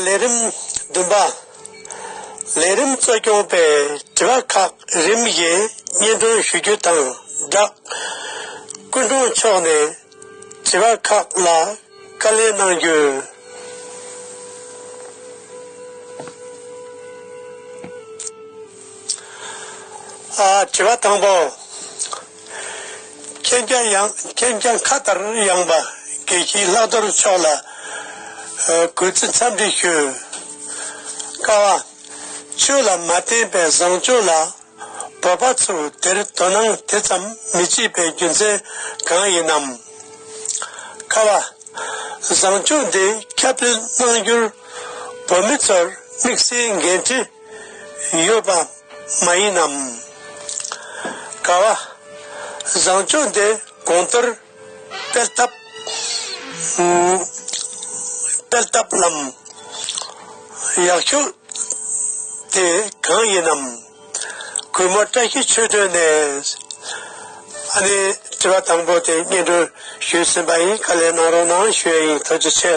ལས་རིམ་བདུན་པ། ལས་རིམ་གཙོ་སྐྱོང་པས་དྲི་བ་ཁག་རིམ་བཞིན་སྙན་སྒྲོན་ཞུ་རྒྱུ་དང་སྦྲགས། སྐུ་མགྲོན་མཆོག་ནས་བྱེད་པ་ཁག་ལ་བཀའ་ལན་གནང་རྒྱུ། དྲི་བ་དང་པོ། མཁྱེན་རྒྱ་ཡངས་མཁྱེན་རྒྱ་མཁའ་ལྟར་ཡངས་པ་དགེ་བཤེས་ལྷག་རྡོར་མཆོག་ལ་གུས་བརྩི་འཚམས་འདྲི་ཞུ། དཀའ་བ། ཆོས་ལ་མ་བརྟེན་པའི་བཟང་སྤྱོད་ལ། བོད་པ་ཚོས་དེར་དོ་སྣང་དེ་ཙམ་མི་བྱེད་པའི་རྒྱུ་མཚན་གང་ཡིན་ནམ། ཁ་བ། བཟང་སྤྱོད་འདི་ཁྱབ་སྤེལ་གནང་རྒྱུར་བོད་མི་ཚོར་དམིགས་བསལ་འགན་འཁྲི་ཡོད་པ་མ་ཡིན་ནམ། ཁ་བ། བཟང་སྤྱོད་འདི་གོང་ལྟར་དཔེར་བཏབ། དཔེར་བཏབ་ལམ། ཡག་ཤོས་དེ་གང་ཡིན་ནམ། གུས་མོ་བཀྲ་ཤིས་ཆོས་སྒྲོན་ནས། ཨ་ནེ་དྲི་བ་དང་པོ་དེ་སྙན་སྒྲོན་ཞུས་ཟིན་པ་ཡིན་དཀའ་ལས་གནང་རོགས་གནང་ཞུ་ཡ་ཡིན་ཐུགས་རྗེ་ཆེ།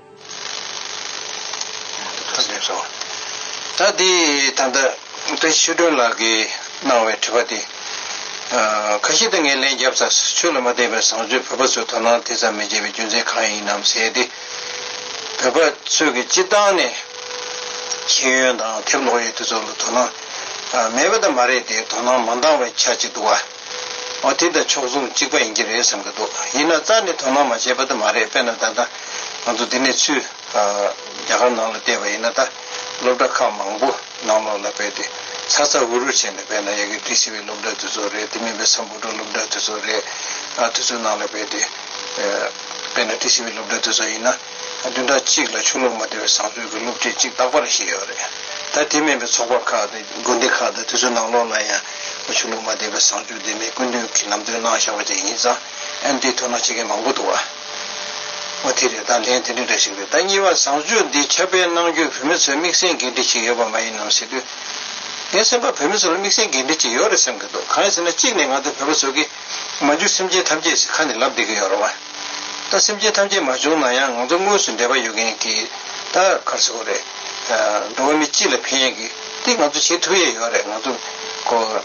ད་དེ་ད་ལྟ་བཀྲ་ཤིས་སྒྲོན་ལགས་ཀྱིས་གནང་བའི་དྲི་བ་དེ། ཁ་ཤེས་དང་ངས་ལན་བརྒྱབ་ཚར་ཆོས་ལ་མ་བརྟེན་པའི་བཟང་སྤྱོད་བོད་པ་ཚོས་དོ་སྣང་དེ་ཙམ་མི་བྱེད་པའི་རྒྱུ་མཚན་གང་ཡིན་ནམ་ཟེར་ཏེ། བོད་པ་ཚོས་ཀྱི་སྤྱི་བཏང་ནས་ཤེས་ཡོན་དང་དེབ་ཀློག་ཡོད་དེ་ཚོ་ལ་དོ་སྣང་མེད་པ་དང་མ་རེད་དེ་དོ་སྣང་མ་འདང་བའི་ཆ་གཅིག་འདུག་བ། ཨོ་དེ་ད་ཕྱོགས་མཚུངས་གཅིག་པ་ཡིན་གྱི་རེད་བསམ་གྱི་འདུག་ཡིན་ན་རྩ་ནས་དོ་སྣང་མ་བྱས་པ་ད་མ་རེད་དཔེར་ན་ད་ལྟ་ང་ཚོ་འདི་ནས་ཚུད། རྒྱ་གར་ནང་ལ་བལྟས་པ་ཡིན་ན་ད་སློབ་གྲྭ་ཁག་མང་པོ་ནང་ལོགས་ལ་བལྟས་ཏེ་ཚ་ཚ་འུར་འུར་བྱས་ནས་བལྟས་ན་ཡ་གི་འདི་སི་བའི་སློབ་གྲྭ་དེ་ཚོ་རེད་དེ་མིན་པའི་སམ་བུ་ཏྲོ་སློབ་གྲྭ་དེ་ཚོ་རེད། དེ་ཚོའི་ནང་ལ་བལྟས་ཏེ་བལྟས་ན་དེ་སི་བའི་སློབ་གྲྭ་དེ་ཚོ་ཡིན་ན། བདུན་ཕྲག་གཅིག་ལ་ཆུ་ལོག་མ་བདེ་བའི་བཟང་སྤྱོད་ཀྱི་སློབ་ཁྲིད་ཅིག་རྟག་པར་བཞེས་ཡོད་རེད། ད་དེ་མིན་པའི་ཚོགས་པ་ཁག་དང་དགོན་སྡེ་ཁག་དང་དུས་ཚོད་ནང་ལོག་ལ་ཡང་ཆུ་ལོག་མ་བདེ་བའི་བཟང་སྤྱོད་དེ་མི་ཀུན་དུ་གྱིས་ལམ་སྟོན་གནང་བཞག་པ་ཅིག་ཡིན་ཙང་ཨེམ་ཐི་ཐུགས་སྣང་བྱེད་མཁན་མང་པོ་འདུག་བ་དེ་རེད་ད་ལན་དེ་འདྲའི་འདྲ་ཞིག་རེད་ད་གཉིས་པ་བཟང་སྤྱོད་འདི་ཁྱབ་སྤེལ་གནང་རྒྱུར་བོད་མི་ཚོའི་དམིགས་བསལ་འགན་འཁྲི་ཞིག་ཡོད་པ་མ་ཡིན་ནམ་ཟེར་དུས། ངའི་སེམས་པར་བོད་མི་ཚོ་ལ་དམིགས་བསལ་འགན་འཁྲི་ཅིག་ཡོད་རེད་བསམ་གྱི་འདུག་གང་ཡིན་ཟེར་ན་གཅིག་ནས་ང་ཚོ་བོད་པ་ཚོ་གིས་མ་འཇུག་སེམས་ཅན་ཐམས་ཅད་ཟི་ཁ་ནས་ལབ་བསྡད་ཀྱི་ཡོད་རེད་བ། ད་སེམས་ཅན་ཐམས་ཅད་མ་བྱུང་ན་ཡང་ང་ཚོ་དངོས་སུ་འདས་པ་ཡོད་མཁན་གྱི་ད་གར་ཟི་གོ་རེད། འགྲོ་བ་མི་སྤྱི་ལ་ཕན་ཡས་ཀྱི་དེ་ང་ཚོ་བྱེད་ཐུབ་ཡས་ཡོད་རེད་ང་ཚོ་གོ།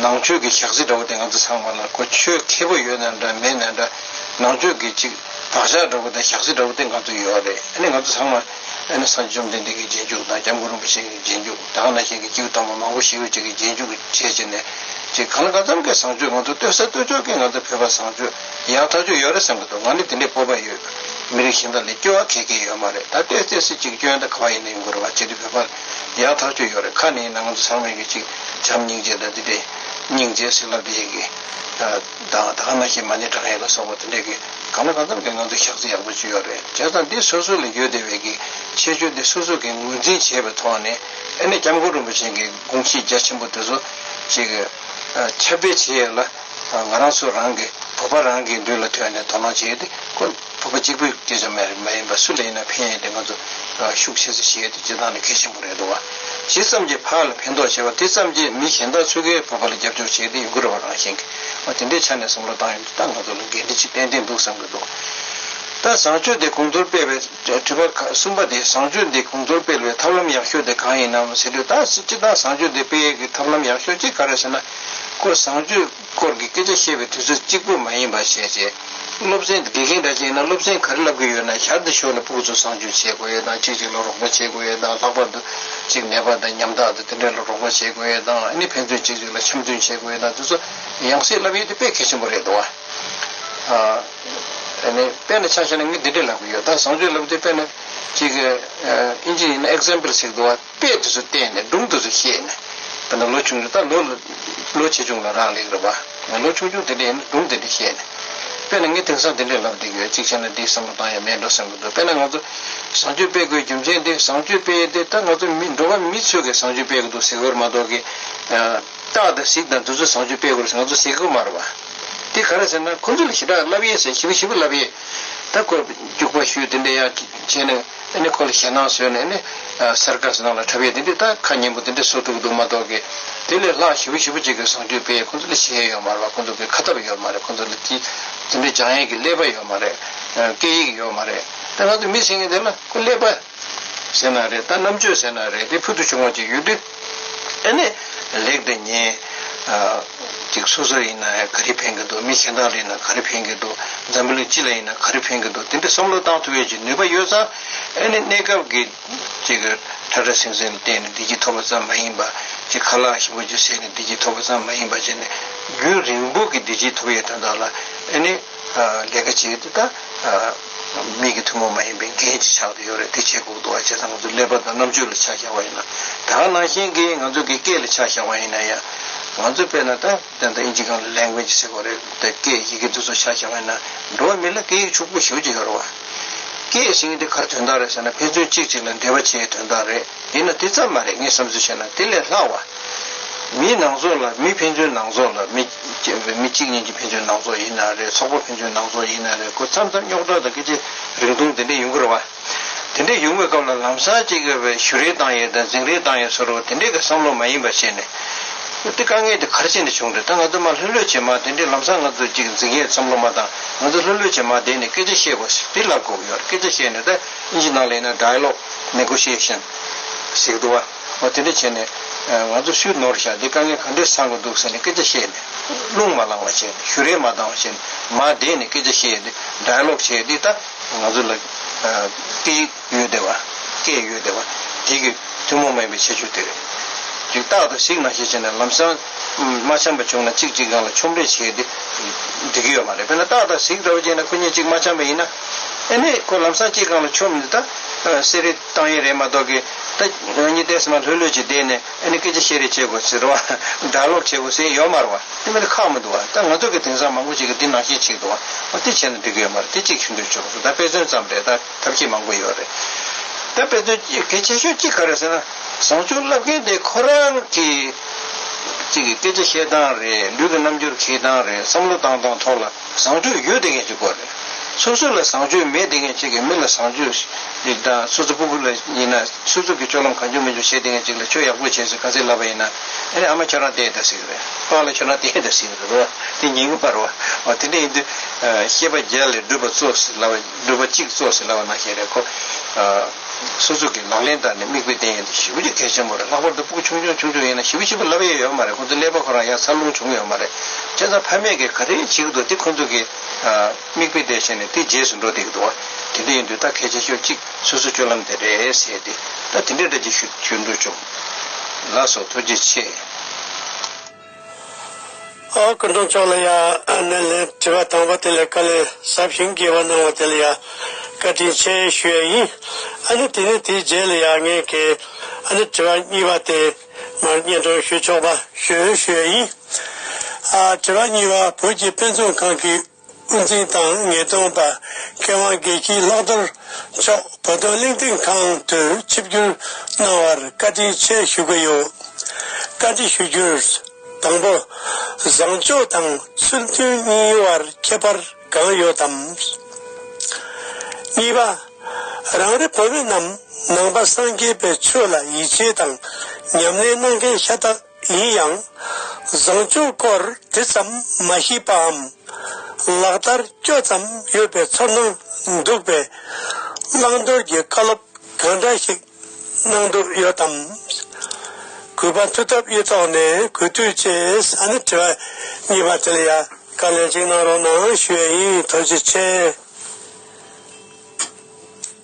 ནང་ཆོས་ཀྱི་ཞག་ཟི་འདྲ་བོ་དེ་ང་ཚོ་ཚང་མ་ལ་གོ་ཆོས་མཁས་པོ་ཡོད་ན་འདྲ་མེད་ན་འདྲ་ནང་ཆོས་ཀྱི་ཅིག་བག་ཞག་འདྲ་བོ་དང་ཞག་ཟི་འདྲ་བོ་དེ་ང་ཚོ་ཡོད་རེད་ཨ་ནི་ང་ཚོ་ཚང་མ་ཨ་ནི་སངས་རྒྱས་བཅོམ་ལྡན་འདས་ཀྱི་རྗེས་འཇུག་དང་སྐྱབས་མགོན་རིན་པོ་ཆེ་ཀྱི་རྗེས་འཇུག། བདག་ན་གཞན་གྱི་སྐྱེ་བོ་དང་པོ་མང་པོ་ཞིག་ལུས་གཅིག་གི་རྗེས་འཇུག་གིས་ཁྲིད་བྱས་ནས། ཅིག་གང་ག་ཙམ་གྱིས་བཟང་སྤྱོད་ང་ཚོ་གཏོད་ས་གཏོད་ཆོག་གིས་ང་ཚོ་བོད་པ་བཟང་སྤྱོད་ཡག་ཐག་ཆོད་ཡོད་རེད་བསམ་གྱི་འདུག་ང་ནི་དེ་འདྲའི་སྤོབས་པ་ཡོད་མི་རིགས་གཞན་དག་ལས་སྐྱོ་བ་གས་གས་ཡོད་མ་རེད་ད་ལྟའི་བརྩེ་སེམས་གཅིག་སྐྱོན་དང་ག་བ་ཡིན་ན་ཡིན་དགོས་རེད་བ་ཅིག་དེ་བོད་པ་ཡག་ཐག་ཆོད་ཡོད་རེད་ཁ་ནས་ཡིན་ན་ང་ཚོ་ཚང་མ་ཡིན་གྱི་ཅིག་བྱམས་སྙིང་རྗེ་དང་དེ་འདྲའི་སྙིང་རྗེ་ཟིག་ལབ་དེ་ཡིན་གྱི། བདག་དང་ང་ཞེས་མ་ནི་བགྲང་ཡས་ལ་སོགས་པ་དེ་འདྲས་ཀྱིས་གང་ལ་གང་འཚམ་གྱི་ངང་དུ་བཞག་ཚེ་ཡག་པོ་བཅོས་ཡོད་རེད་བྱས་ཙང་འདི་སོ་སོ་ལ་ཡོད་དེ་བས་ཀྱི་ཁྱད་ཆོས་འདི་སོ་སོ་གྱིས་ངོས་འཛིན་བྱས་པའི་ཐོག་ནས་ཨེ་ནས་སྐྱབས་མགོན་རིན་པོ་ཆེན་གྱི་དགོངས་གཞི་རྒྱ་ཆེན་པོ་དེ་ཚོ་ཅིག་ཁྱབ་སྤེལ་བྱེད་ཡས་ལ་ང་རང་ཚོ་རང་གི་བོད་པ་རང་གི་མདུན་ལ་ཐོན་ནས་དོ་སྣང་བྱེད་ཡས་དེ་ཁོ། ཐུབ་པ་གཅིག་པུས་སྐད་ཆ་སྨྲས་རེད་མ་ཡིན་པར་སུ་ལ་ཡིན་ན་ཕན་ཡོད་དེ་ང་ཚོ་ཤུགས་ཆེ་ས་ཞིག་ཡོད་དེ་བྱེད་སྟངས་ནི་གལ་ཆེན་པོ་རེད་འདུག་བ་ཇི་ཙམ་གྱིས་བག་ལ་ཕན་ཐོག་བྱེད་པ་དེ་ཙམ་གྱིས་མི་གཞན་དག་ཆོལ་ཁའི་བོད་པ་ལ་རྒྱབ་སྐྱོར་བྱེད་དེ་ཡོང་གི་རེད་བ་རང་བཞིན་གྱིས་དེ་འདྲའི་ཆ་ནས་བསམ་བློ་བཏང་ཡོད་ད་ང་ཚོ་ལ་འགན་འཁྲི་ཆེ་ཏན་ཏན་འདུག་བསམ་གྱི་འདུག་ད་བཟང་སྤྱོད་དེ་གོང་མཐོར་སྤེལ་བའི་དྲི་བ་གསུམ་པ་དེ་བཟང་སྤྱོད་འདི་གོང་མཐོར་སྤེལ་བའི་ཐབས་ལམ་ཡག་ཤོས་དེ་གང་ཡིན་ནམ་ཟེར་དུས་ད་སྤྱིར་བཏང་བཟང་སྤྱོད་འདི་སྤེལ་ཡས་ཀྱི་ཐབས་ལམ་ཡག་ཤོས་གཅིག་ག་རེ་ཟེར་ན་སྐོར་བཟང་སྤྱོད། སྐོར་གྱི་སྐད་ཆ་བཤད་པའི་དུས་ཚོད་གཅིག་པུ་མ་ཡིན་པར་བཤད་རྗེས། སློབ་ཚན་དགེ་རྒན་འདྲ་བྱས་ན་སློབ་ཚན་ག་རེ་བསླབ་གི་ཡོད་ན་ཞར་དུ་ཤོག་ལ་སྤུག་ཚོ་བཟང་སྤྱོད་བྱེད་དགོས་ཡོད་དང་ཅིག་ཅིག་ལ་རོགས་པ་བྱེད་དགོས་ཡོད་དང་ལྷག་པར་དུ། ཅིག་ནད་པ་དང་ཉམ་ཐག་དང་དེ་འདྲ་ལ་རོགས་པ་བྱེད་དགོས་ཡོད་དང་ནི་ཕན་ཚུན་ཅིག་ཅིག་ལ་འཆམ་མཐུན་བྱེད་དགོས་ཡོད་དང་དེ་ཚོ་ཡང་སྲིད་བསླབ་ཡུལ་དེ་དཔེ་གལ་ཆེན་པོ་རེད་འདུག་ཨ། དཔེ་ན་ཆ་ཤས་ན་ངས་འདི་འདྲ་ལབ་གི་ཡོད་ད་བཟང་སྤྱོད་ལབ་དུས་དཔེ་ན། ཅིག། ཨིན་ཇི་ཡིན་ན example ཞིག་འདུག་ཨ། དཔེ་དེ་ཚོ་བལྟས་ནས་སྒྲུང་དེ་ཚོ་ཤེས་ནས། བལྟས་ན་ལོ་ཆུང་ཆུང་ད་ལོ། ལོ་ཆེ་ཆུང་ལ་རག་ལས་རེད་པ། ང་ལོ་ཆུང་ཆུང་དེ་འདྲས་ཡིན་ན་སྒྲུང་དེ་འདྲས་ཤེས་ནས། དཔེར་ན་ངས་དེང་སང་དེ་འདྲས་ལབ་བསྡད་ཀྱི་ཡོད་ཅིག་བྱས་ན་འདིའི་བསམ་བློ་བཏང་ཡ་མེད་འགྲོ་སེམས་ཀྱི་འདུག་དཔེར་ན་ང་ཚོ། བཟང་སྤྱོད་སྤེལ་དགོས་རྒྱུ་མཚན་དེ་བཟང་སྤྱོད་སྤེལ་ཡས་དེ་ད་ང་ཚོ་མི་འགྲོ་བ་མི་ཚོས་གིས་བཟང་སྤྱོད་སྤེལ་གི་འདུག་གཟིགས་བར་མ་གཏོགས་གིས། སྟག་དང་གཟིག་དང་དེ་ཚོས་བཟང་སྤྱོད་སྤེལ་དགོས་རེད་ཟེར་ང་ཚོ་གཟིགས་གི་མ་རེད་པ། དེ་ག་རེད་ཟེར་ན་ཁོ་ཚོས་ལ་ཞི་དྲག་ལབ་ཡས་ཟེར་ཞི་བ་ཞི་བ་ལབ་ཡས། ད་སྐོར་རྒྱུག་པ་ཞུས་དེ་འདྲས་ཡག་བྱས་ནས། དེ་ནས་ཁོ་ལ་ཞེད་སྣང་བཟོས་ནས་ནི། སེར་སྐར་གསེར་ནག་ལ་འཁྲབ་ཡས་འདི་འདྲའི་རྟ་ཁ་སྙན་པོ་འདི་འདྲ་གསོ་ཐུབ་ཀྱི་འདུག་མ་གཏོགས་ཀྱི། དེ་ལས་ལྷག་ཞི་བ་ཞི་བ་ཅིག་གི་བཟང་སྤྱོད་དཔེ་ཁོ་ཚོ་ལ་བྱེད་ཡས་ཡོད་མ་རེད་པ་ཁོ་ཚོ་གི་ཁ་ཐབས་ཡོད་མ་རེད་ཁོ་ཚོ་ལ་དེ་འདྲའི་སྦྱང་ཡས་ཀྱི་ཀླད་པ་ཡོད་མ་རེད། སྐད་ཡིག་ཡོད་མ་རེད། དེ་ང་ཚོ་མི་ཟེར་ངེས་དེ་ལ་ཁོ་ཀླད་པ། ཟེར་ན་རེད་རྟ་རྣམ་དཔྱོད་ཟེར་ན་རེད་དེ་ཕུལ་དུ་བྱུང་བ་ཅིག་ཡོད་དུས། དེ་ནས་ལེགས་འདི་ཉན། ཅིག་སོ་སོར་ཡིན་ན་ག་རེ་ཕན་གི་འདུག་མི་གཞན་དག་ལ་ཡིན་ན་ག་རེ་ཕན་གི་འདུག་འཛམ་བུ་གླིང་སྤྱི་ལ་ཡིན་ན་ག་རེ་ཕན་གི་འདུག་དེ་འདྲའི་བསམ་བློ་བཏང་ཐུབ་བའི་ཅིག་ནུས་པ་ཡོད་ཙང། ཨ་ནི་གནས་སྐབས་ཀྱི་ཅིག་ཁྲ་ཁྲ་སིང་སིང་ལ་བལྟས་ནས་བདེ་སྐྱིད་ཐོབ་པ་ཙམ་མ་ཡིན་པ། ཅིག་ཁ་ལག་ཞིམ་པོ་ཅིག་ཟས་ནས་བདེ་སྐྱིད་ཐོབ་པ་ཙམ་མ་ཡིན་པ་བྱས་ནས་རྒྱུན་རིང་པོ་གི་བདེ་སྐྱིད་ཐོབ་ཡོད་དོན་དག་ལ་ཨ་ནི། ལས་ཀ་བྱེད་དེ་དག་མིག་གི་ཐུན་མོང་མ་ཡིན་པའི་རྒྱན་གྱི་ཕྱག་ཏུ་ཡོད་རེད་དེ་བྱེད་ཁུག་ཏུ་བ་བྱས་ཙང་ང་ཚོ་ཀླད་པ་དང་རྣམ་དཔྱོད་ལ་ཆ་བཞག་པ་ཡིན་ན་དེ་གང་ནང་བཞིན་གྱི་ང་ཚོ་གི་སྐད་ལ་ཆ་བཞག་པ་ཡིན་ན་ཡང་ང་ཚོ་དཔེར་ན་ད་ལྟ་ཨིན་ཇི་གང་ལ Language ཟེར་གོ་རེད་དེ་སྐད་ཡི་གེ་འདི་ཚོ་ཆ་བཞག་པ་ཡིན་ན་འགྲོ་བ་མི་ལ་སྐད་ཡིག་ཕྱུག་པོ་ཞོ་གཅིག་ཡོད་རེད་བ། སྐད་གཞན་དེ་གར་དོན་དག་རེད་ཟེར་ན་ཕན་ཚུན་གཅིག་གཅིག་ལ་འབྲེལ་བ་བྱེད་ཡའི་དོན་དག་རེད། འདི་ན་དེ་ཙམ་མ་རེད་ངས་བསམ་ཚུལ་བཤད་ན་དེ་ལས་ལྷག་བ། མིའི་ནང་ཚོགས་ལ་མི་ཕན་ཚུན་ནང་ཚོགས་ལ་མི། མི་གཅིག་གཉིས་ཀྱི་ཕན་ཚུན་ནང་ཚོགས་ཡིན་ན་རེད་ཚོགས་པ་ཕན་ཚུན་ནང་ཚོགས་ཡིན་ན་རེད་ཁོ་མཚམས་མཚམས་རྙོག་དྲ་དང་སྐད་ཆ་རིང་ཐུང་དེ་འདྲས་ཡོང་གི་རེད་བ། དེ་འདྲས་ཡོང་བའི་སྐབས་ལ་ལམ་སང་གཅིག་གིས་བས་ཞུ་རེ་བཏང་ཡོད་དང་འཛིང་རེ་བཏང་ཡོད་ཟེར་རོ་དེ་འདྲས་ཀྱི་བསམ་བློ་མ་ཡིན་པ་བཤད་ནས། དེ་དཀའ་ངལ་དེ་གར་བྱས་ནས་བྱུང་རེད་ད་ང་ཚོ་མ་ལྷོད་ལྷོད་བྱེད་མ་དེ་འདྲས་ལམ་སང་ང་ཚོ་གཅིག་འཛིང་ཡས་བསམ་བློ་མ་བཏང་ང་ཚོ་ལྷོད་ལྷོད་བྱེད་མ་བསྡད་ནས་སྐད་ཆ་བཤད་དགོས་ཟེར་དེ་ལ་དགོས་ཀྱི་ཡོད་རེད་སྐད་ཆ་བཤད་ནས་ད། གཉིས་ཀྱི་ནང་ལས་ནི Dialogue Negotiation ཞིག་འདུག་བ། འོ་དེ་འདྲ་བྱས་ནས། ང་ཚོ་སུས་ནོར་བཞག་འདི་དཀའ་ངལ་ག་འདྲའི་སང་གི་འདུག་ཟེར་ནས་སྐད་ཆ་བཤད་ནས། རླུང་མ་བསླང་བ་བྱས་ནས་ཞུ་རེ་མ་བཏང་བ་བྱས་ནས། མ་བསྡད་ནས་སྐད་ཆ་བཤད་དེ Dialogue བྱས་དེ་ད་ང་ཚོ་ལ། སྐད་ཡོད་དེ་བ། སྐད་ཡོད་དེ་བ། དེ་གི་ཐུན་མོང་མ་ཡིན་པའི་ཁྱད་ཆོས་དེ་རེད། རིགས་རྟགས་དང་གཟིགས་སྣང་ཤས་ཆེ་ནས་ལམ་སང། མ་འཆམ་པ་བྱུང་ན་གཅིག་གཅིག་རང་ལ་ཆོམ་རེ་བྱས་ཏེ་འགྲིག་གི་ཡོད་མ་རེད་དཔེར་ན་ཏག་ཏག་གཟིགས་འདྲ་བོ་བྱས་ན་ཁོ་གཉིས་གཅིག་མ་འཆམ་པ་ཡིན་ན། ཨེ་ནས་ཁོ་ལམ་སང་གཅིག་གང་ལ་ཆོམ་འདི་ད་གསེར་རེ་བཏང་ཡས་རེད་མ་གཏོགས་གི་ད་གཉིས་ཏེ་ཟེར་མ་ལྷོད་ལྷོད་ཅིག་བསྡད་ནས་ཨེ་ནས་སྐད་ཆ་བཤད་རེ་བྱེད་དགོས་ཟེར་བ་སྒྲ་ལོག་བྱེད་དགོས་ཟེར་ཡས་ཡོད་མ་རེད་བ་དེ་མིན་ན་ཁག་མི་འདུག་བ་ད་ང་ཚོ་གི་དེང་སང་མང་པོ་ཅིག་གི་འདི་ནང་བཞིན་བྱེད་དགོས་བ་དེ་བྱས་ན་འགྲིག་གི་ཡོད་མ་རེད་དེ་གཅིག་ཆུ་འདོད་ཆུ་བ་སོ་ད་དཔེ་མཚོན་ཙམ་རེད་ད། ཐབས་ཤེས་མང་པོ་ཡོད་རེད། ད་དཔེ་དོན་གལ་ཆེ་ཤོས་གཅིག་ག་རེད་ཟེར་ན། བཟང་སྤྱོད་བསླབ་མཁན་དེ་ཁོ་རང་གིས་ཅིག་གིས་སྐད་ཆ་བཤད་སྟངས་རེད་ལུས་ཀྱི་རྣམ་འགྱུར་གྱིས་སྟངས་རེད་བསམ་བློ་བཏང་སྟངས་ཐོག་ལ་བཟང་སྤྱོད་ཡོད་བསྡད་མཁན་གཅིག་དགོས་རེད། སོ་སོ་ལ་བཟང་སྤྱོད་མེད་བསྡད་མཁན་གཅིག་གིས་མི་ལ་བཟང་སྤྱོད་ཞིག་དང་སོ་སོ་སྤུ་གུ་ལ་ཡིན་ན་སོ་སོ་གིས་སྤྱོད་ལམ་གང་འཇུག་མི་འཇུག་བཤད་བསྡད་མཁན་གཅིག་ལ་ཁྱོད་ཡག་པོ་བྱས་ཟེར་ག་ཚད་ལབ་པ་ཡིན་ན། ཨ་རེ་ཨ་མ་ཁྱོད་རང་དེ་ད་ཟིག་རེད་པཱ་ལ་ཁྱོད་རང་དེ་ད་ཟིག་རེད་པཱ་དེ་ཉིན་གུ་པར་བ། འོ་དེ་འདྲ་ཡིན་དུས། ཤེས་པ་བརྒྱ་ལས་སྒྲུབ་པ་གཙོ་ཟེར་ལབ་པ། འདོད་པ་གཅིག་གཙོ་ཞེས་ལབ་པ་ནང་བཤད་པའི་སྐོར། སོ་སོ་གིས་ལག་ལེན་བསྟར་ནས་དམིགས་དཔེ་བསྟན་ཡོད་དེ་བཞི་བཅུ་གལ་ཆེན་པོ་རེད་ལྷག་པར་དུ་སྤུག་ཆུང་ཆུང་ཆུང་ཆུང་ཡིན་ན་བཞི་བཅུ་བཞི་པོ་ལབ་ཡས་ཡོད་མ་རེད་ཁོང་ཚོའི་ཀླད་པ་ཁོ་རང་ཡང་འཚར་ལོངས་བྱུང་ཡོད་མ་རེད་སྤྱན་བཟང་ཕ་མེས་ཀྱིས་ག་རེ་བྱེད་ཀྱི་འདུག་དེ་ཁོང་ཚོ་གིས་དམིགས་དཔེ་བསྟན་ཤེས་ནས་དེ་རྗེས་སུ་འགྲོ་བསྡད་ཀྱི་འདུག་བ་དེ་འདྲ་ཡིན་དུས་ད་གལ་ཆེ་ཤོས་གཅིག་སོ་སོའི་སྤྱོད་ལམ་དེ་རེད་ཟེར་ཏེ་ད་དེ་འདྲའི་འདྲ་གཅིག་ཞུ་འདོད་བྱུང། ལ་སོགས་ཐུགས་རྗེ་ཆེ། སྐུ་མདུན་མཆོག་ལ་ཡང་སྣེ་ལེན་དྲི་བ་དང་པོ་དེ་ལས་བཀའ་ལན་ཟབ་ཞིང་དགྱེས་པ་གནང་བ་དེ་ལ་ཡང་བཀའ་དྲིན་ཆེ་ཞུ་ཡས་ཡིན། ཨ་ནི་དེ་ནས་དེའི་རྗེས་ལ་ཡང་ངས་ཀྱི་ཨ་ནི་དྲི་བ་གཉིས་པ་དེ་མར་སྙན་སྒྲོན་ཞུ་ཆོག་པ་ཞུ་ཞུ་ཡས་ཡིན། དྲི་བ་གཉིས་པ་བོད་ཀྱི་དཔེ་མཛོད་ཁང་གི། དབུ་འཛིན་དང་ངེས་རྡུང་པ་སྐལ་བཟང་དགེ་བཤེས་ལྷག་རྡོར་མཆོག་བོད་དོན་གླེང་སྟེགས་ཁང་དུ་ཆིབས་བསྒྱུར་གནང་བར་བཀའ་དྲིན་ཆེ་ཞུ་གི་ཡོད། བཀའ་དྲི་ཞུ་རྒྱུར། དང་པོ། བཟང་སྤྱོད་དང་ཚུལ་མཐུན་གཉིས་དབར་ཁྱད་པར་གང་ཡོད་དམ། གཉིས་པ། རང་རེ་བོད་མི་རྣམས་ནང་པ་སངས་རྒྱས་པའི་ཆོས་ལ་ཡིད་ཆེས་དང་ཉམས་ལེན་གནང་མཁན་ཤ་སྟག་ཡིན་ཡང། བཟང་སྤྱོད་སྐོར་དེ་ཙམ་མ་ཤེས་པའམ། ལག་བསྟར་སྐྱོ་ཙམ་ཡོད་པའི་ཚོར་སྣང་འདུག་པས། བླང་དོར་གྱི་བཀའ་སློབ་གང་འདྲ་ཞིག་གནང་འདོད་ཡོད་དམ། གུས་པ་མཐུ་སྟོབས་ཡེ་ཐོག་ནས་གུས་འདུད་ཅེས་ས་ནས་དྲི་བ་གཉིས་པ་དེ་ལ་ཡང་བཀའ་ལན་གཅིག་གནང་རོགས་གནང་ཞུ་ཡས་ཡིན་དོ་ཅི་ཆེ།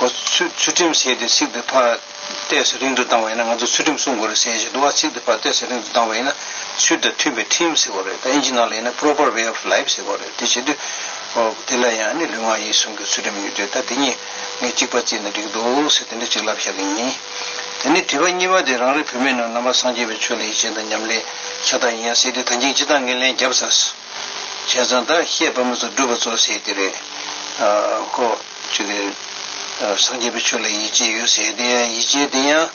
ཨོ། ཚུལ་ཁྲིམས་ཞེས་ཏེ་ཚིག་དེ་ཕར་བལྟས་སུ་རིང་དུ་བཏང་བ་ཡིན་ན་ང་ཚོ་ཚུལ་ཁྲིམས་སྲུང་དགོས་རེད་ཟེར་ཞེས་འདུག་ཨ་ཚིག་དེ་ཕར་བལྟས་སུ་རིང་དུ་བཏང་བ་ཡིན་ན་ཚུལ་དང་མཐུན་པའི་ཁྲིམས་ཟེར་དགོས་རེད་ད་ཨིན་ཇི་ནང་ལ་ཡིན་ན proper way of life ཟེར་དགོས་རེད་དེ་བྱེད་དུས། ཨོ། དེ་ལ་ཡང་ནི་ལུས་ངག་ཡིད་གསུམ་གྱི་ཚུལ་ཁྲིམས་ཡོད་དུས་ད་དེ་གཉིས་ངས་གཅིག་པ་བརྩིས་ན་འགྲིག་འདུག་ཟེར་དེ་འདྲ་གཅིག་ལབ་བཞག་གི་ཡིན། དེ་ནས་དྲི་བ་གཉིས་པ་དེ་རང་རེ་བོད་མི་རྣམས་ནང་པ་སངས་རྒྱས་པའི་ཆོས་ལ་ཡིད་ཆེས་དང་ཉམས་ལེན་ཤ་སྟག་ཡིན་ཡང་སྲིད་དེ་ད་ཅིང་ཅི་སྟག་ངས་ལན་བརྒྱབ་ས། བྱས་ཙང་ད་ཤད་བོད་མི་ཚོ་སྒྲུབ་པ་ཚོ་ཟེར་གྱི་རེད། ཁོ། ཆོས་ཀྱི། སངས་རྒྱས་པའི་ཆོས་ལ་ཡིད་ཆེས་ཡོད་ཟེར་དེ་ཡང་ཡིད་ཆེས་དེ་ཡང།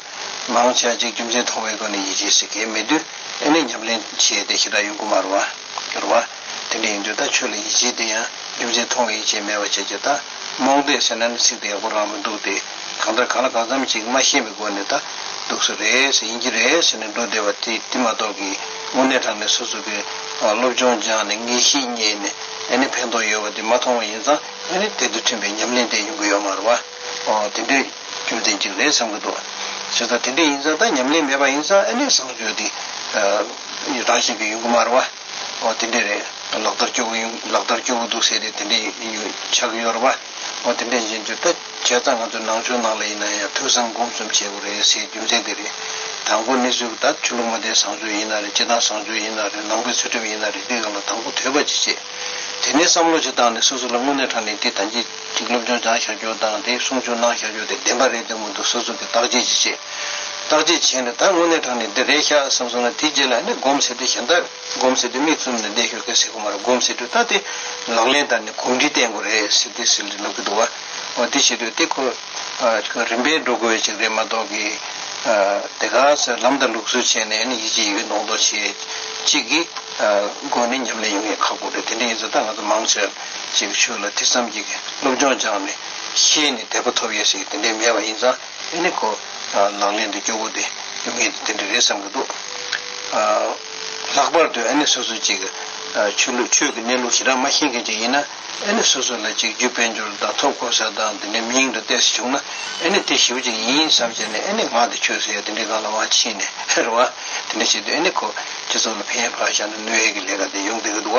མ་འོང་ཆགས་འཇིག་རྒྱུ་མཚན་མཐོང་བའི་སྒོ་ནས་ཡིད་ཆེས་ཟེར་གྱི་མི་འདུག་ཨེ་ནས་ཉམས་ལེན་བྱས་ཏེ་ཞེ་དྲག་ཡོང་གི་མ་རུང་བ། གྱུར་བ། དེ་འདྲ་ཡིན་དུས་ད་ཆོས་ལ་ཡིད་ཆེས་དེ་ཡང་རྒྱུ་མཚན་མཐོང་བའི་ཡིད་ཆེས་མེད་པ་བྱས་ཀྱི་ད། རྨོངས་དད་ཟེར་ན་ནི་ཚིག་དེ་ཡག་པོ་རང་མི་འདུག་སྟེ། གང་ལྟར་གང་ལ་གང་འཚམ་ཅིག་མ་ཤེས་པའི་སྒོ་ནས་ད། སྡུག་ས་རེད་ཟེར་ཡིན་གྱི་རེད་ཟེར་ནས་འགྲོ་བསྡད་པ་དེ་མ་གཏོགས་ཀྱི། དངོས་གནས་དྲང་གནས་སོ་སོ་པའི་སློབ་སྦྱོང་སྦྱངས་ནས་ངེས་ཤེས་རྙེད་ནས་ཨེ་ནི་ཕན་ཐོག་ཡོད་པ་དེ་མ་མཐོང་བ་ཡིན་ཙང་ཨེ་ནི་དེ་དང་མཐུན་པའི་ཉམས་ལེན་དེ་ཡོང་གི་ཡོད་མ་རེད་བ། དེ་འདྲའི་རྒྱུ་མཚན་གཅིག་རེད་བསམ་གྱི་འདུག་བྱས་ཙང་དེ་འདྲས་ཡིན་ཙང་ད་ཉམས་ལེན་མེད་པ་ཡིན་ཙང་ཨེ་ནི་བཟང་སྤྱོད་དེ་རང་བཞིན་གྱི་ཡོང་གི་མ་རེད་བ། དེ་འདྲས་རེད་ལག་བསྟར་སྐྱོ་བོ་ཡོང་ལག་བསྟར་སྐྱོ་བོ་འདུག་ཟེར་ཏེ་དེ་འདྲས་ཆགས་ཀྱི་ཡོད་རེད་བ། ཨོ་དེ་འདྲས་ཡིན་དུས་ད་བྱས་ཙང་ང་ཚོའི་ནང་ཆོས་ནང་ལ་ཡིན་ན་ཡང་ཐོས་བསམ་སྒོམ་གསུམ་བྱེད་དགོས་རེད་ཟེར་རྒྱུ་མཚན་དེ་རེད། དང་པོ་ནི་ཚུལ་བུ་ད་ཆོས་ལུགས་མ་བསྟན་བཟང་ཆོས་ཡིན་ན་རེད་སྤྱི་བཏང་བཟང་ཆོས་ཡིན་ན་རེད་ནང་པའི་ཚུལ་ཁྲིམས་ཡིན་ན་རེད་འདི་གང་ལ་དང་པོ་དོད་པ་ཅི་བྱེད། དེ་ནས་བསམ་བློ་ཅིག་བཏང་ནས་སོ་སོ་ལ་དངོས་གནས་དྲང་ནས་འདི་ད་ཅི་ཞིག་སློབ་སྦྱོང་སྦྱང་བཞག་རྒྱུ་དང་དེ་གསུང་ཆོས་གནང་བཞག་རྒྱུ་དེ་བདེན་པ་རེད་འདོད་མི་འདུག་སོ་སོ་གིས་བརྟག་དཔྱད་ཅིག་བྱེད། བརྟག་དཔྱད་བྱས་ནས་ད་དངོས་གནས་དྲང་ནས་འདི་རེད་ཤག་བསམ་སོང་ན་དེ་རྗེས་ལ་ནི་སྒོམ་ཟེར་དུས་གཞན་དག་སྒོམ་ཟེར་དུས་མིག་བཙུམ་ནས་བསྡད་ཞོར་གེགས་སེལ་ཁུག་མ་རེ་སྒོམ་ཟེར་དུས་ལྟ་སྟེ། ལག་ལེན་བསྟར་ནས་གོམས་འདྲིས་བསྟན་དགོས་རེད་ཟེར་ཏེ་ཟེར་ལེ་ལབ་ཀི་འདུག་བ། འདི་བྱེད་དུས་ལྟེ་ཁོ། ཁྱོད་རིམ་པས་འགྲོ་དགོས་པའི་ཅིག་རེད་མ་གཏོགས་ཀི། དེ་ག་ཟེར་ལམ་དང་ལུགས་སྲོལ་བྱས་ནས་ཡིད་ཆེས་ཡོད་མདོག་མདོག་བྱེད། ཅིག་གི། སྒོ་ནས་ཉམས་ལེན་ཡོང་ངེས་ཁག་པོ་རེད་དེ་འདྲ་ཡིན་ཟེར་ད་ང་ཚོ་མང་ཆེར། ཅིག་ཆོས་ལ་ཐེ་ཚོམ་གྱིས་སློབ་སྦྱོང་སྦྱངས་ནས། ཤེས་ནས་དད་པ་ཐོབ་ཡས་ཞིག་དེ་འདྲའི་མེད་པ་ཡིན་ཙང། དེ་ནི་ཁོ་ལག་ལེན་དུ་སྐྱོ་བོ་དེ་ཡོང་ངེས་དེ་འདྲ་རེད་བསམ་གྱི་འདུག་ལྷག་པར་དུ་ཨ་ནེ་སོ་སོ་ཅིག་ཆོས་ལུགས་ཆོས་ཀྱི་གནས་ལུགས་ཞེ་དྲག་མ་ཤེས་མཁན་ཅིག་ཡིན་ན་ཨ་ནེ་སོ་སོ་ལ་གཅིག་རྒྱུ་དཔལ་འབྱོར་དང་ཐོབ་ཁོ་ས་དང་དེ་འདྲའི་མི་ཡིང་འདྲ་བལྟས་སུ་བྱུང་ན་ཨ་ནེ་དེ་ཞིབ་ཅིག་ཡིན་བསམ་བྱས་ནས་ཨ་ནེ་ང་དེ་ཆོས་སུ་ཡོད་དེ་འདྲའི་སྒང་ལ་མ་ཕྱིན་ནས་ཧེར་བ་དེ་འདྲ་བྱེད་དུས་ཨ་ནེ་ཁོ་སྤྱི་ཚོགས་ལ་ཕན་ཡོད་ཕར་བཞག་ན་གནོད་ཡོད་ཀྱི་ལས་ཀ་དེ་ཡོང་སྡོད་ཀྱི་འདུག་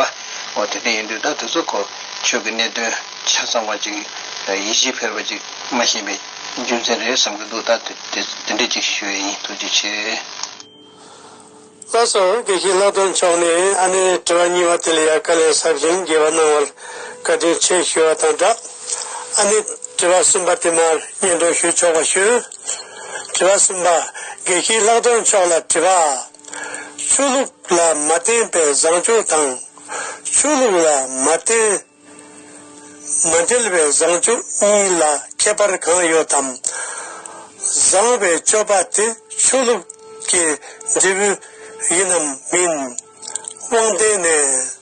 ཨོ་དེ་འདྲ་ཡིན་དུས་ད་དེ་ཚོ་ཁོ་ཆོས་ཀྱི་གནད་དོན་ཆ་ཚང་བ་ཅིག་ཡིད་ཆེས་འཕེར་བ་ཅིག་མ་ཤེས་པའི། རྒྱུ་མཚན་རེད་བསམ་གྱི་འདུག་ད་དེ་འདྲས་ཅིག་ཞུ་ཡས་ཡིན་ཐུགས་རྗེ་ཆེ། བཀྲ་སོང་དགེ་བཤེས་ལྷག་དོན་མཆོག་ནས་ཨ་ནེ་དྲི་བ་གཉིས་པ་དེ་ལ་ཡ་ག་ལས་ཟབ་ཞིང་རྒྱས་པ་གནང་བར་བཀའ་དྲིན་ཆེ་ཞུ་བ་དང་སྦྲགས་ཨ་ནེ་དྲི་བ་གསུམ་པ་དེ་མར་སྙན་སྒྲོན་ཞུ་ཆོག་པ་ཞུ། དྲི་བ་གསུམ་པ། དགེ་བཤེས་ལྷག་དོན་མཆོག་ལ་དྲི་བ། ཆོས་ལུགས་ལ་མ་བརྟེན་པའི་བཟང་སྤྱོད་དང། ཆོས་ལུགས་ལ་མ་བརྟེན། མ་འབྲེལ་བའི་བཟང་སྤྱོད་གཉིས་ལ་ཁྱད་པར་གང་ཡོད་དམ། བཟང་བའི་སྤྱོད་པ་དེ་ཆོས་ལུགས་ཀྱི་འབྲས་བུ་ཡིན་ནམ་མིན། དབང་ལྡན་ནས།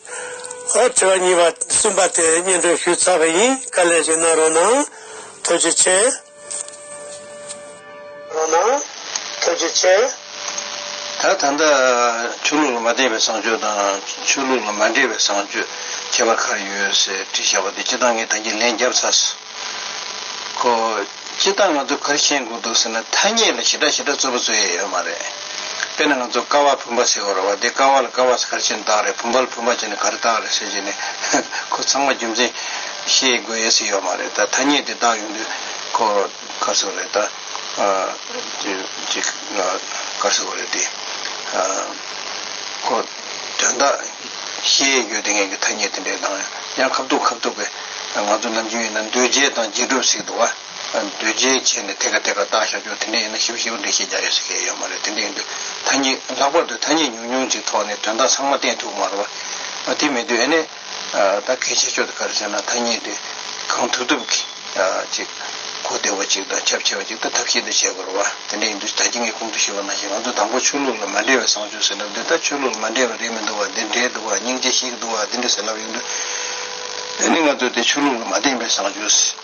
ཨ། དྲི་བ་གཉིས་པ་གསུམ་པ་དེ་སྙན་སྒྲོན་ཞུས་ཚར་བ་ཡིན་ག་ལེ་ཞིག་གནང་རོགས་གནང། ཐུགས་རྗེ་ཆེ། ལོ་ན་ཐོད་ཀྱི་ཆེ། ད་ད་ལྟ། ཆོས་ལུགས་ལ་མ་བརྟེན་པའི་བཟང་སྤྱོད་དང། ཆོས་ལུགས་ལ་མ་འབྲེལ་བའི་བཟང་སྤྱོད། ཁྱད་པར་ག་རེ་ཡོད་ཟེར་དྲི་བཞག་པ་དེ་སྤྱི་བཏང་གི་ད་གྱིས་ལན་རྒྱབ་ཚར། ཁོ། སྤྱི་བཏང་ང་ཚོས་ག་རེ་ཤེས་མགོ་འདུག་ཟེར་ན་ཐ་སྙད་ལ་ཞི་དྲག་ཞི་དྲག་རྩོད་པ་རྩོད་ཡས་ཡོད་མ་རེད། དཔེར་ན་ང་ཚོ་ཀ་བ་བུམ་པ་ཟེར་བར་བ་དེ་ཀ་བ་ལ་ཀ་བ་ཟེར་ག་རེ་བྱས་ནས་བཏགས་རེད་བུམ་པ་ལ་བུམ་པ་བྱས་ནས་ག་རེ་བཏགས་རེད་ཟེར་གྱི་ནི་ཁོ་ཚང་མ་རྒྱུ་མཚན་ཤེས་དགོས་ཡས་སུ་ཡོད་མ་རེད་ད་ཐ་སྙད་དེ་བཏགས་ཡོང་དུས་ཁོ་གར་སོ་རེད་ད་གར་སོ་རེད་དེ། ཁོ་དོན་དག་ཤེས་ཡས་ཡོད་དེ་ངས་ཀྱི་ཐ་སྙད་དེ་འདྲས་དང་ཡང་ཁ་བཏུག་ཁ་བཏུག་གི་ང་ཚོ་ནམ་རྒྱུན་ཡིན་ན་འདུལ་བྱེད་དང་རྗེས་གྲུབ་ཟེར་གི་འདུག་ཨ། འདུས་བྱས་བྱས་ནས་དེ་ག་དེ་ག་བཏགས་བཞག་ཀྱང་དེ་འདྲས་ཡིན་ན་ཞིབ་ཞིབ་འགྲེལ་བཤད་རྒྱག་ཡོད་ཟེར་མཁན་ཡོད་མ་རེད་དེ་འདྲས་ཡིན་དུས་ཐ་སྙད་ལྷག་པར་དུ་ཐ་སྙད་ཉུང་ཉུང་ཅིག་ཐོག་ནས་དོན་དག་ཚང་མ་བསྟན་ཐུབ་མ་རོགས། དེ་མི་དུས་ཨེ་ནས་ད་གལ་ཆེ་ཕྱོགས་དེ་ག་རེ་ཟེར་ན་ཐ་སྙད་དེ་གང་ཐུབ་ཐུབ་ཅིག་གོ་བདེ་བ་ཅིག་དང་ཁྱབ་ཆེ་བ་ཅིག་ཏུ་ཐབས་ཤེས་དུ་བྱེད་དགོས་རོགས་ཨ། དེ་འདྲས་ཡིན་དུས་ད་ཁྱེད་ངའི་གོང་དུ་ཞུས་པ་ནང་བཞིན་ང་ཚོ་དང་པོ་ཆོས་ལུགས་ལ་མ་འབྲེལ་བའི་བཟང་སྤྱོད་ཟེར་ལབ་འདི་ད་ཆོས་ལུགས་ལ་མ་འབྲེལ་བ་རེད་མི་འདུག་བ་འདི་འདྲས་འདུག་བ་སྙིང་རྗེ་ཞིག་འདུག་བ་འདི་འདྲས་ཟེར་ལབ་ཡོང་དུས་ཨེ་ནས་ང་ཚོ་དེ་ཆོས་ལུགས་ལ་མ་བརྟེན་པའི་བཟང་སྤྱོད།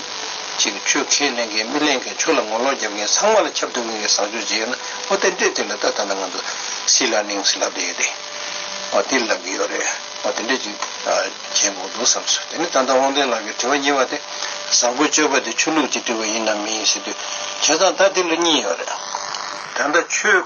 ཅིག་ཆོས་ཁས་ལེན་མཁན་མི་ལེན་མཁན་ཆོས་ལ་ངོ་ལོག་བརྒྱབ་མཁན་ཚང་མ་ལ་ཁྱབ་ཐུབ་མཁན་གྱི་བཟང་སྤྱོད་ཅིག་ཡོད་ན་ཨོ་དེ་འདྲས་དེ་ལ་ལྟ་ད་ལྟ་ང་ཚོ་སྲིད་ལ་གླེང་སྲིད་ལབ་ཏུ་ཡོད་དེ། ཨོ་དེ་ལབ་ཀྱི་ཡོད་རེད་ཨོ་དེ་འདྲས་ཅིག་བྱེད་དགོས་འདུག་བསམ་སོང་དེ་ནས་ད་ལྟ་དབང་ལྡན་ལགས་ཀྱི་དྲི་བ་གཉིས་པ་དེ་བཟང་པོ་སྤྱོད་པ་དེ་ཆོས་ལུགས་ཀྱི་དྲི་བ་ཡིན་ནམ་མིན་ཞེས་དུས་བྱས་ཙང་ད་དེ་ལ་གཉིས་ཡོད་རེད། ད་ལྟ་ཆོས།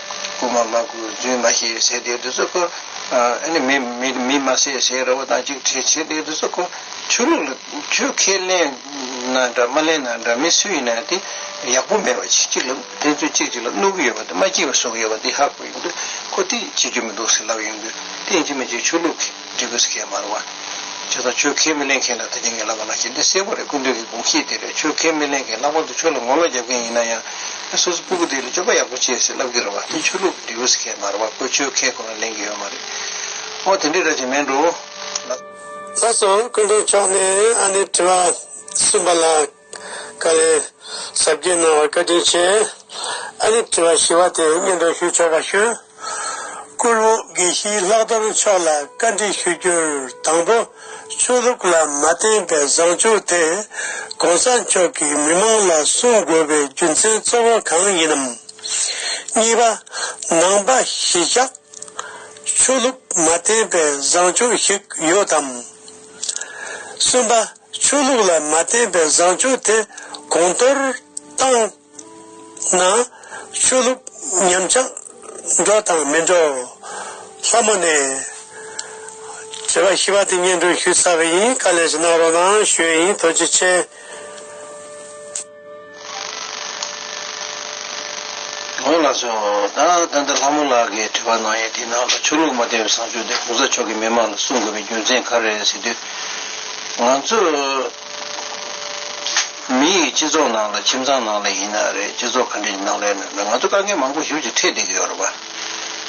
རྐུ་མ་མ་རྐུ་རྫུན་མ་ཤེས་ཟེར་དེའི་དུས་སུ་རྐུ། མི་མ་ཟེར་ཟེར་ར་བ་དང་གཅིག་བྲིས་བྱེད་དེའི་དུས་སུ་རྐུ། ཆོས་ལུགས་ལ་ཆོས་ཁས་ལེན་ན་འདྲ་མ་ལེན་ན་འདྲ་མི་སུ་ཡིན་ན་དེ་ཡག་པོ་མེད་པ་གཅིག་ལ་ཕན་ཚུན་གཅིག་གཅིག་ལ་གནོད་ཀྱི་ཡོད་པ་དེ་མ་སྐྱིད་པ་བཟོ་གི་ཡོད་པ་དེ་ཧ་གོ་ཡོང་དུས་ཁོ་དེ་བྱེད་རྒྱུ་མི་འདུག་ཟེར་ལབ་ཡོང་དུས་དེ་ཡིན་གཅིག་མ་གཅིག་ཆོས་ལུགས་ཀྱི་འབྲས་བུ་སྐྱེད་མ་རུང་བ། ཇི་ལྟར་ཆོས་ཁས་མི་ལེན་མཁན་ལ་ད་ཅིང་གིས་བསླབ་པ་ལ་ཞེན་ཏེ་གསལ་པོ་རེད་ཀུན་འདུས་ཀྱི་དགོངས་གཞི་དེ་རེད་ཆོས་ཁས་མི་ལེན་མཁན་ལྷག་པར་དུ་ཆོས་ལ་ངོ་ལོག་རྒྱབ་མཁན་ཡིན་ན་ཡང་ངས་སོ་སོ་སྤུ་གུ་འདི་ལ་སྤྱོད་པ་ཡག་པོ་སྤྱད་ཟེར་བསླབ་ཀྱི་རེད་བ་དེ་ཆོས་ལུགས་ཀྱི་འབྲས་བུ་སྐྱེད་མ་རུང་བ་ཁོས་ཆོས་ཁས་གོ་ན་ལེན་གྱི་ཡོད་མ་རེད། ཨོ་དེ་འདྲའི་ར་ཅན་མེད་འགྲོ། ལགས་སོ་སྐུ་མགྲོན་མཆོག་ནས་ཨ་ནེ་དྲི་བ་གསུམ་པ་ལ། བཀའ་ལན། གཟབ་རྒྱས་གནང་བར་བཀའ་དྲིན་ཆེ། ཨ་ནི་དྲི་བ་ཞི་བ་དེ་སྙན་སྒྲོན་ཞུ་ཆོག་པ་ཞུ། བཀུར་འོས་དགེ་བཤེས་ལྷག་རྡོར་མཆོག་ལ་བཀའ་འདྲི་ཞུ་རྒྱུར་དང་པོ་ཆོས་ལུགས་ལ་མ་བརྟེན་པའི་བཟང་ཕྱོགས་དེ ྋགོང་ས་མཆོག་གིས་མི་མང་ལ་གསུང་དགོས་པའི་རྒྱུ་མཚན་གཙོ་བོ་གང་ཡིན་ནམ། གཉིས་པ། ནང་པ་གཞིས་ཆགས་ཆོས་ལུགས་མ་བརྟེན་པའི་བཟང་ཕྱོགས་ཤིག་ཡོད་དམ། གསུམ་པ། ཆོས་ལུགས་ལ་མ་བརྟེན་པའི་བཟང་སྤྱོད་དེ་གོང་མཐོར་བཏང་ན། ཆོས་ལུགས་ཉམས་ཆག་འགྲོ་དང་མི་འགྲོ། ལྷ་མོ་ནས། དྲི་བ་ཞི་བ་དེ་སྙན་སྒྲོན་ཞུས་ཚར་བ་ཡིན་ག་ལས་ཀྱི་གནང་རོགས་གནང་ཞུས་ཡིན་དོ་ཅི་ཆེ། ལོ་ལགས་སོ། ད་ལྟ་འདི་ལྷ་མོ་ལགས་ཀྱིས་བྲིས་པ་ནང་ཡིན་དེའི་ནང་ལ་ཆོས་ལུགས་མ་བསྟན་པའི་བཟང་སྤྱོད་དེ་གོང་ས་མཆོག་གིས་མི་མང་ལ་གསུང་དགོས་པའི་རྒྱུ་མཚན་ག་རེ་རེད་ཟེར་དུས། ང་ཚོས། མི་ཡིས་སྤྱི་ཚོགས་ནང་ལ་ཁྱིམ་ཚང་ནང་ལ་ཡིན་ན་རེད་སྤྱི་ཚོགས་ག་འདྲ་ཡི་ནང་ལ་ཡིན་ན་རེད་ང་ཚོ་དཀའ་ངལ་མང་པོ་ཞིབ་ཀྱིས་འཕྲད་བསྡད་ཀྱི་ཡོད་རེད་པ།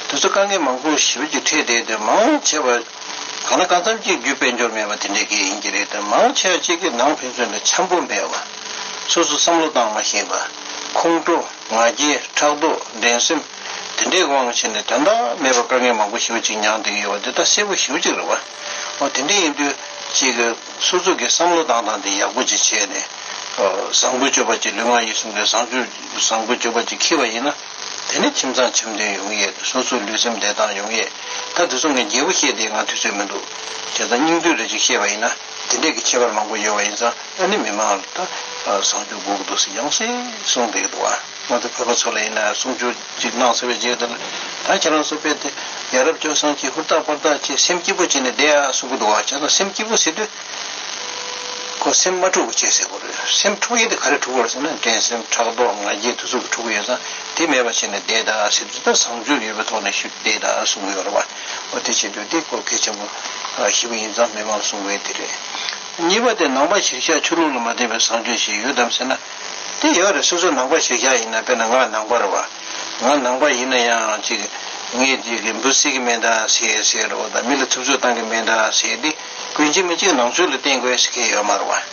དེ་ཚོ་དཀའ་ངལ་མང་པོ་ཞིབ་ཀྱིས་འཕྲད་བསྡད་དེ་མང་ཆེ་བ། གང་ལ་གང་འཚམ་གཅིག་བརྒྱུད་དཔལ་འབྱོར་མེད་པ་དེ་འདྲའི་གེགས་ཡིན་གྱི་རེད་དེ་མང་ཆེ་བ་གཅིག་གི་ནང་ཕན་ཚུན་ལ་འཆམ་པོ་མེད་པ། སོ་སོ་བསམ་བློ་བཏང་མ་ཤེས་པ། ཁོང་ཁྲོ། ང་རྒྱལ། ཕྲག་དོག། འགྲན་སེམས། དེ་འདྲའི་དབང་བྱས་ནས་དོན་དག་མེད་པར་དཀའ་ངལ་མང་པོ་ཞིག་ཅིག་མྱངས་བསྡད་ཀྱི་ཡོད་པ་འདི་ད་གསལ་པོ་ཞིབ་ཅིག་རེད་བ། འོ་དེ་འདྲ་ཡིན་དུས། ཅིག། སོ་སོ་གིས་བསམ་བློ་བཏང་སྟངས་དེ་ཡག་པོ་ཅིག་བྱས་ནས། བཟང་པོའི་སྤྱོད་པ་ཅིག་ལུས་ངག་ཡིད་གསུམ་གའི་བཟང་སྤྱོད། བཟང་པོའི་སྤྱོད་པ་ཅིག་འཁྱེར་བ་ཡིན་ན། དེ་ནས་ཁྱིམ་ཚང་འཆམ་མཐུན་ཡོང་ཡས་དེ་སོ་སོའི་ལུས་སེམས་བདེ་ཐང་ཡོང་ཡས། ད་དེ་ཚོ་ངའི་རྒྱལ་པོ་བཤད་དེ་ང་ཐུགས་ཚོད་མི་འདུག། དེ་ད་སྙིང་དོན་རེ་ཅིག་བཤད་པ་ཡིན་ན། དེ་འདྲས་ཀྱི་ཁྱད་པར་མང་པོ་ཡོད་པ་ཡིན་ཙང་ཨ་ནི་མི་མང་ལ་ད་བཟང་སྤྱོད་སྒུག་འདུག་ཟེར་ཡང་སྲིད་གསུངས་བསྡད་འདུག་ང་ཚོ་བོད་པ་ཚོ་ལ་ཡིན་ན་གསུང་ཆོས་གཅིག་གནང་ཟེར་བའི་རྗེས་ཟློས་ལ་ད་ཁྱེད་རང་ཚོ་དཔེ་དེ་ཡ་རབས་སྤྱོད་བཟང་གྱིས་ཧུར་ཐག་པར་ཐག་བཅད་སེམས་སྐྱིད་པོ་བྱས་ནས་བསྡད་ཨ་གསུང་གི་འདུག་ཁྱེད་ཚོ་སེམས་སྐྱིད་པོ་བྱེད་དུས་ཁོ་སེམས་མ་འཁྲུག་པ་བྱེད་ཟེར་གོ་རེད་སེམས་འཁྲུག་ཡས་དེ་ག་རེ་འཁྲུག་པར་ཟེར་ན་འགྲན་སེམས་ཕྲག་དོག་ང་རྒྱལ་ཐུགས་ཚུགས་ཀྱི་འཁྲུག་ཡོད་ཙང་དེ་མེད་པ་བྱས་ནས་བསྡད་ཨ་ཟེར་དུས་ད་བཟང་སྤྱོད་ཡོད་པའི་ཐོག་ནས་བཞུགས་བསྡད་ཨ་གསུང་གི་ཡོད་རེད་བ། ཨོ་དེ་བྱེད་འདོད་དེ་སྐོར་གལ་ཆེན་པོ་ཞིག་པ་ཡིན་ཙང་མི་མང་གསུང་བས་དེ་རེད། གཉིས་པ་དེ་ནང་པ་གཞིར་བཞག་ཆོས་ལུགས་ལ་མ་བརྟེན་པའི་བཟང་སྤྱོད་ཞིག་ཡོད་དམ་ཟེར་ན། དེ་ཡོད་རེད་སོ་སོ་ནང་པ་གཞིར་བཞག་ཡིན་ན་དཔེར་ན་ང་ནང་པར་བ། ང་ནང་པ་ཡིན་ན་ཡང་ཅིག་ངས་ཅིག་གིས་འབུ་བསྲེག་གི་མེད་འདྲ་ཟེར་ཟེར་རོ་དང་མི་ལ་ཐུབ་ཚོད་བཏང་གི་མེད་འདྲ་ཟེར་ཏེ་ཀུན་གཞི་མི་གཅིག་ནང་ཆོས་ལ་བརྟེན་དགོས་ཟེར་མཁན་ཡོད་མར་བ།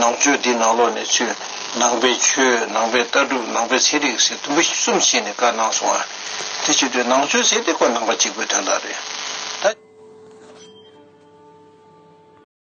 ནང་ཆོས་འདི་ནང་ལོགས་ནས་ཆོས། ནང་པའི་ཆོས་ནང་པའི་ལྟ་གྲུབ་ནང་པའི་ཚན་རིག་ཟེར་དུམ་བུ་གསུམ་ཕྱེས་ནས་བཀའ་གནང་སོང་བ། དེ་ཕྱིར་དུས་ནང་ཆོས་ཟེར་དེ་ཀོ་ནང་པ་གཅིག་པོའི་དོན་དག་རེད། ད།